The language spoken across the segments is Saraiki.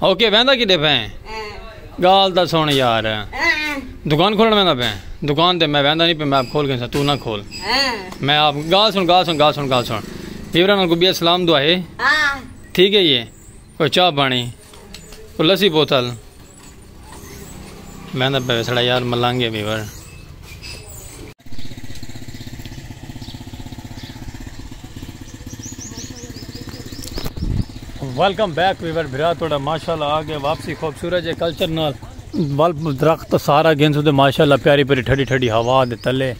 او کے ویندا کڈے پئیں گال تاں سن یار دکان کھولن ویندا پئیں دکان تے میں ویندا نہیں پئیں میں آپ کھول گیساں تو نہ کھول میں آپ گال سن گال سن گال سن گال سن ویورا نال کو بیا سلام دعا ہے ٹھیک ہے یہ کوئی چاہ پانی کوئی لسی بوتل میندا پے وسڑا یار ملانگے بیور۔ ویلکم بیک ویور بھرا توڑا ماشاءاللہ آگے واپسی خوبصورت جے کلچر نال بلب درخت سارا گھنسو دے ماشاءاللہ پیاری پیاری ٹھڈی ٹھڈی ہوا دے تلے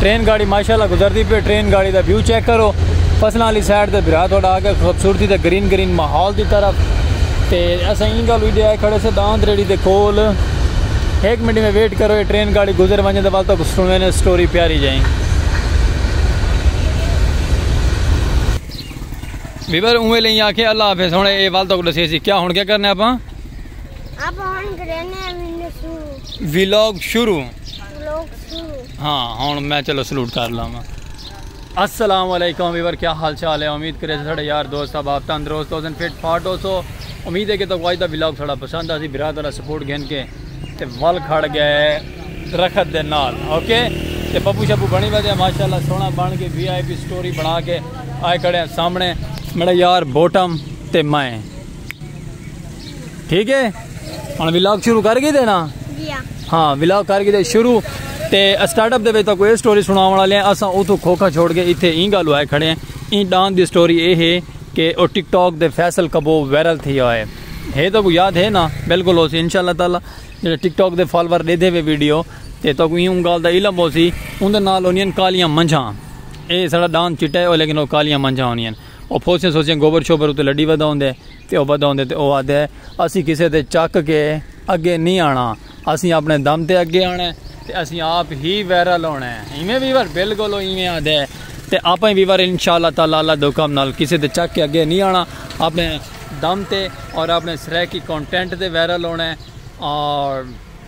ٹرین گاڑی ماشاءاللہ گزردی پی ٹرین گاڑی دا ویو چیک کرو فصلاں والی سائیڈ تے بھرا تہاڈا آ گیا خوبصورتی دا گرین گرین ماحول دی طرف تے اساں ایں گل وی ڈے آئے کھڑے سے داند ریڑی دے کول ایک منٹ میں ویٹ کرو یہ ٹرین گاڑی گزر ونجے دے بعد تو سنوے نے سٹوری پیاری جائیں بیبر اوے لیں آکھے اللہ حافظ ہن اے وال تو دسے سی کیا ہن کیا کرنے اپاں اپ ہن گرینے ویلاگ شروع ویلاگ شروع ہاں ہن میں چلو سلوٹ کر لاواں السلام علیکم ویور کیا حال چال ہے امید کرے ساڈے یار دوست احباب تندرست ہو سن فٹ فاٹ ہو سو امید ہے کہ تو اج دا ولاگ ساڈا پسند آسی برات والا سپورٹ گھن کے تے ول کھڑ گئے درخت دے نال اوکے تے پپو شپو بنی ودے ماشاءاللہ سونا بن کے وی آئی پی سٹوری بنا کے آئے کھڑے ہیں سامنے میرا یار بوٹم تے میں ٹھیک ہے ہن ولاگ شروع کر گئی دے نا جی ہاں ہاں ولاگ کر گئی دے شروع تے سٹارٹ اپ دے وچ کوئی سٹوری سناون والے ہیں اساں اوتھوں کھوکھا چھوڑ کے ایتھے این گل ہوئے کھڑے ہیں این ڈان دی سٹوری اے ہے کہ او ٹک ٹاک دے فیصل کبو وائرل تھی ہوئے ہے تو کو یاد ہے نا بالکل ہو سی انشاءاللہ تعالی جڑے ٹک ٹاک دے فالوور دے دے وے ویڈیو تے تو کو اون گل دا علم ہو سی اون دے نال ہونیاں کالیاں منجھاں اے سڑا ڈان چٹا ہے لیکن او کالیاں منجھاں ہونیاں او پھوسیاں سوسیاں گوبر شوبر اتے لڈی ودا ہوندے تے او ودا ہوندے تے او آہدے اسیں کسے تے چک کے اگے نی آنا اسیں اپنے دم تے اگے آنا ہے تے اسیں آپ ہی ویرل ہونا ہے ایویں ویور بلکل او ایویں آہدے تے آپاں ہی ویور انشاءاللہ تعالی اللہ دے حکم نال کسے تے چک کے اگے نی آنا اپنے دم تے اور اپنے سرائیکی کانٹینٹ تے ویرل ہونا ہے اور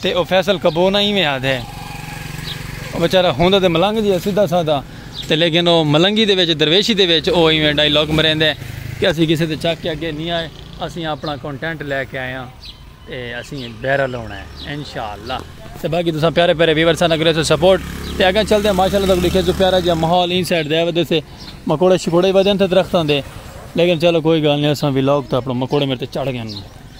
تے او فیصل کبو نہ ایویں آہدے۔ او بیچارہ ہوندا تے ملنگ جیہا سدھا سادہ تے لیکن او ملنگی دے وچ درویشی دے وچ او ایویں ڈائیلاگ مریندے کہ اسیں کسے دے چک کے اگے نی آئے اسیں آپنڑاں کونٹینٹ لے کے آئے آں تے اسیں بیرل ہونا ہے انشاءاللہ تے باقی تساں پیارے پیارے ویور ساناں کرے سو سپورٹ تے اگاں چل دے ماشاءاللہ تاکوں ڈیکھے سو پیارا جیہا ماحول ایں سائیڈ دے ودے سے مکوڑے شکوڑے ودے تھے درختاں دے لیکن چلو کوئی گال نی اساں ویلاگ تے اپنڑاں مکوڑے میڈ تے چڑھ گئے نی۔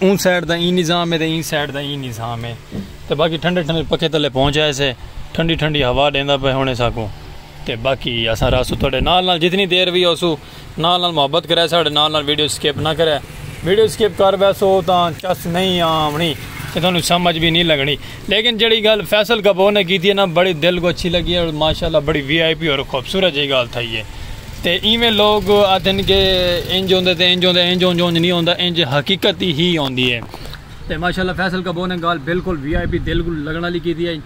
اوں سائیڈ دا ایں نظام ہے تے ایں سائیڈ دا ایں نظام ہے تے باقی ٹھنڈے ٹھنڈے پکھے تلے پہنچ آئے سے ٹھنڈی ٹھنڈی ہوا ڈیندا پے ہونے ساکوں تے باقی اساں راسو تہاڈے نال نال جتنی دیر وی ہوسو نال نال محبت کرے ساڈے نال نال ویڈیو سکپ نہ کرے ویڈیو سکپ کر بیسو تاں چس نہیں آونی تے تہانوں سمجھ وی نہیں لگنی لیکن جیڑھی گالھ فیصل گبو نے کیتی ہے نا بڑی دل کو اچھی لگی ہے اور ماشاءاللہ بڑی وی آئی پی اور خوبصورت جیہی گالھ تھئی ہے تے ایویں لوگ آدھن کہ انج ہوندے تے انج ہوندے انج اونج اونج نی ہوندا انج حقیقت ہی ہی ہوندی ہے تے ماشاءاللہ فیصل گبو نے گالھ بالکل وی آئی پی دل کول لگن آلی کیتی ہئی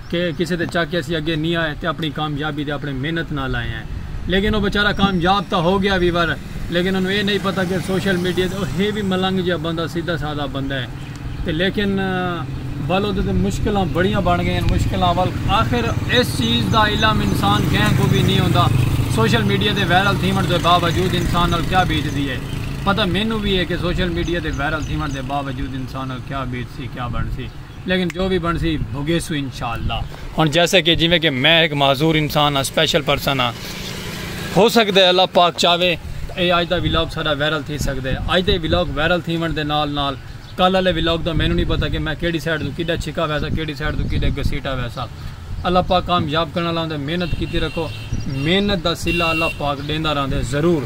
کہ کسے دے چاکے اسی اگے نی آئے تے اپنی کامیابی تے اپنے محنت نال آئے ہیں لیکن او بیچارہ کامیاب تاں ہو گیا وی ور لیکن اونوں اے نئی پتہ کہ سوشل میڈیا تے او ہے وی ملنگ جیہا بندہ سیدھا سادہ بندہ ہے۔ تے لیکن ول اودے تے مشکلاں بڑیاں بن گئین مشکلاں ول آخر اس چیز دا علم انسان کہیں کو بھی نی ہوندا سوشل میڈیا تے وائرل تھیون دے باوجود انسان نال کیا بیت دی ہے پتہ مینوں بھی ہے کہ سوشل میڈیا تے وائرل تھیون دے باوجود انسان نال کیا بیت سی کیا بن سی لیکن جو بھی بن سی بھگیسو انشاءاللہ ہن جیسے کہ جویں کہ میں ایک معذور انسان ہاں سپیشل پرسن ہاں ہو سگدے اللہ پاک چاہوے تاں اے اج دا ولاگ ساڈا وائرل تھی سگدے۔ اج دے ولاگ وائرل تھیونڑ دے نال نال کل آلے ولاگ دا مینوں نی پتہ کہ میں کیڑھی سائیڈ توں کیڈا چھکا ویساں کیڑھی سائیڈ توں کیڈا گھسیٹا ویساں۔ اللہ پاک کامیاب کرن آلا ہوندے محنت کیتی رکھو محنت دا صلہ اللہ پاک ڈیندا رہندے ضرور۔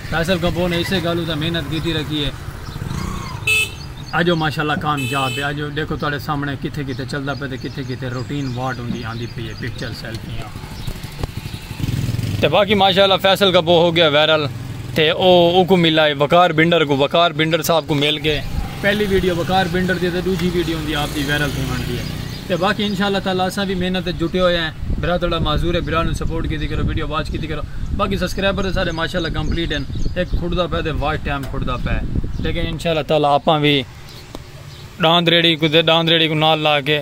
فیصل گھبو نے اسے گالوں تاں محنت کیتی رکھی اے۔ اج او ماشاءاللہ کامیاب اے۔ اج ڈیکھو تہاڈے سامنے کتھے کتھے چلدا پئے تے کتھے کتھے روٹین واٹ ہوندی آندی پئی اے پکچر سیلفیاں۔ تے باقی ماشاءاللہ فیصل کا بو ہو گیا وائرل تے او او کو ملا ہے وقار بنڈر کو وقار بنڈر صاحب کو مل کے پہلی ویڈیو وقار بنڈر دی تے دوجی ویڈیو ہوندی آپ دی وائرل تھے بن دی ہے تے باقی انشاءاللہ تعالی اساں بھی محنت تے جٹے ہوئے ہیں برا تھوڑا معذور ہے برا نو سپورٹ کیتی کرو ویڈیو واچ کیتی کرو باقی سبسکرائبر تے سارے ماشاءاللہ کمپلیٹ ہیں ایک کھڑدا پے تے واچ ٹائم کھڑدا پے لیکن انشاءاللہ تعالی آپاں بھی ڈاند ریڑی کو تے ڈاند ریڑی کو نال لا کے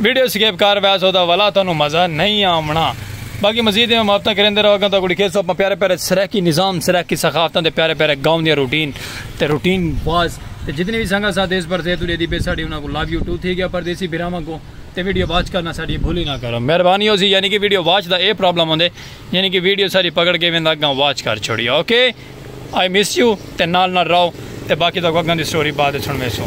ویڈیو سکیپ کر ویسو دا ولا تانوں مزہ نہیں آمنا باقی مزید میں مافتہ کریندے رہو گا تو گڑی کھیسو اپنا پیارے پیارے سرائیکی نظام سرائیکی ثقافتاں دے پیارے پیارے گاؤں دیا روٹین تے روٹین باز تے جتنی بھی سنگا ساتھ اس پر زیت اڑے دی پہ ساڑی انہاں کو لاو یو ٹو تھی گیا پردیسی بھراواں کو تے ویڈیو واچ کرنا ساڑی بھولی نہ کرو مہربانی ہو سی یعنی کہ video watch the a problem ہوندے یعنی کہ ویڈیو ساڑی پکڑ کے ویندا گاں واچ کر چھوڑی اوکے آئی مس یو تے نال نال رہو تے باقی دا کو گاں دی سٹوری بعد سن میں سو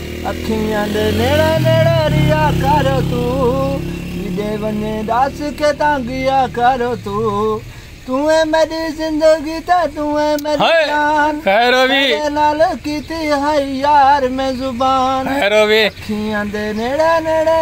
اکھیاں دے نیڑے نیڑے رہیا کر توں جڈے ونجے ڈس کیتا گیا کر توں توں اے میڈی زندگی تے توں اے میڈی جان خیروی نال کیتی ہائی یار میں زبان خیروی اکھیاں دے نیڑے نیڑے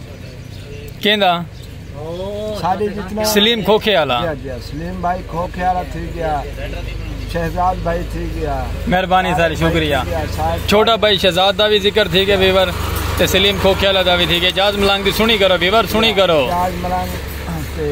کیندا سلیم کھوکھے والا جی، جی، سلیم بھائی کھوکھے والا تھی گیا شہزاد بھائی تھی گیا مہربانی ساری شکریہ چھوٹا بھائی شہزاد دا بھی ذکر تھی گیا ویور تے سلیم کھوکھے والا دا بھی تھی گیا جاز ملنگ دی سنی کرو ویور سنی کرو جاز ملنگ تے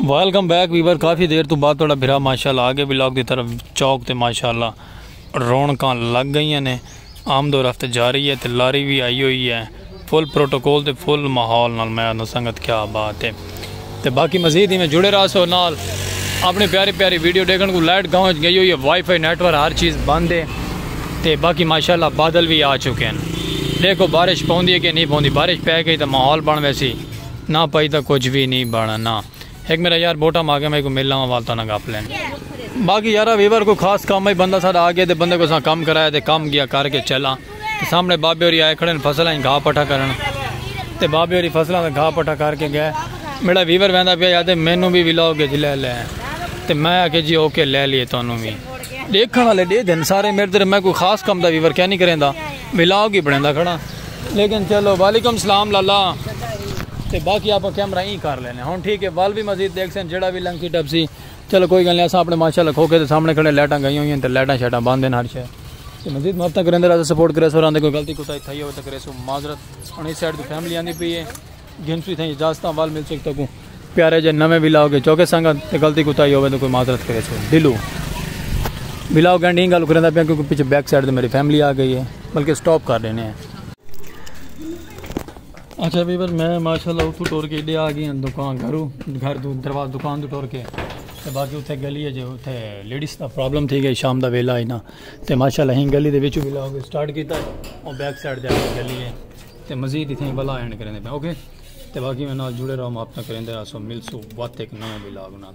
ویلکم بیک ویور کافی دیر تو بعد تھوڑا بھرا ماشاءاللہ آگے بھی لاک دی طرف چوک تے ماشاءاللہ رونکاں لگ گئیاں نے آمد و رفت جاری ہے تے لاری بھی آئی ہوئی ہے فل پروٹوکول تے فل ماحول نال میں آندھاں سنگت کیا بات ہے تے باقی مزید ایویں جڑے رہا سو نال اپنی پیاری پیاری ویڈیو ڈیکھن کو لائٹ گاؤں وچ گئی ہوئی ہے وائی فائی نیٹ ورک ہر چیز بند ہے تے باقی ماشاءاللہ بادل وی آ چکے ہیں دیکھو بارش پوندی ہے کہ نہیں پوندی بارش پے گئی تاں ماحول بن ویسی نہ پئی تاں کچھ وی نہیں بننا ہک میرا یار بوٹا ماگے میں کو مل لاواں وال تانا گپ لین باقی یارا ویور کو خاص کام ہے بندہ ساڈا آ گیا تے بندے کو اساں کم کرایا تے کم گیا کر کے چلا تے سامنے بابے ہوری آئے کھڑے فصل ہیں گھا پٹھا کرن تے بابے ہوری فصل ہیں گھا پٹھا کر کے گئے میرا ویور ویندا پیا یاد ہے مینوں بھی ولاؤ گے جی لے لے تے میں آ کے جی اوکے لے لیے تانوں بھی دیکھن والے دے دن سارے میرے تے میں کوئی خاص کم دا ویور کیا نہیں کریندا ولاؤ گی بنیندا کھڑا لیکن چلو وعلیکم سلام لالا تے باقی آپ کیمرہ ہی کر لینے ہوں ٹھیک ہے وال بھی مزید دیکھ سن جڑا بھی لنکی ٹپ سی چلو کوئی گل نہیں اسا اپنے ماشاءاللہ کھو کے تے سامنے کھڑے لائٹاں گئی ہوئی ہیں تے لائٹاں شیٹاں بند ہیں ہر شے تے مزید محبتاں کریں دے راز سپورٹ کرے سو راندے کوئی غلطی کوتا تھئی ہو تے کرے سو معذرت ہن اس سائیڈ دی فیملی آندی پئی ہے گھنسوی تھیں اجازتاں وال مل سک تکوں پیارے جے نویں ویلاگ اچ چوکے سانگا تے غلطی کوتاہی ہووے تے کوئی معذرت کرے چھو ڈلو ویلاگ اینڈ ہی گل کریندا پیا کیونکہ پیچھے بیک سائیڈ تے میری فیملی آ گئی ہے بلکہ سٹاپ کر دینے ہیں اچھا بھائی بس میں ماشاءاللہ اتھو ٹور کے ایڈے آ گئی ہیں دکان گھرو گھر دو درواز دکان دو ٹور کے تے باقی اتھے گلی ہے جو اتھے لیڈیز دا پرابلم تھی گئی شام دا ویلا ہی نا تے ماشاءاللہ ہی گلی دے وچوں ویلاگ سٹارٹ کیتا ہے اور بیک سائیڈ تے گلی ہے تے مزید اتھیں ہی بلا اینڈ کریندے پئے اوکے تے باقی میں نال جڑے رہو محبتاں کریندے رہسو ملسو وت ہک نویں ولاگ نال۔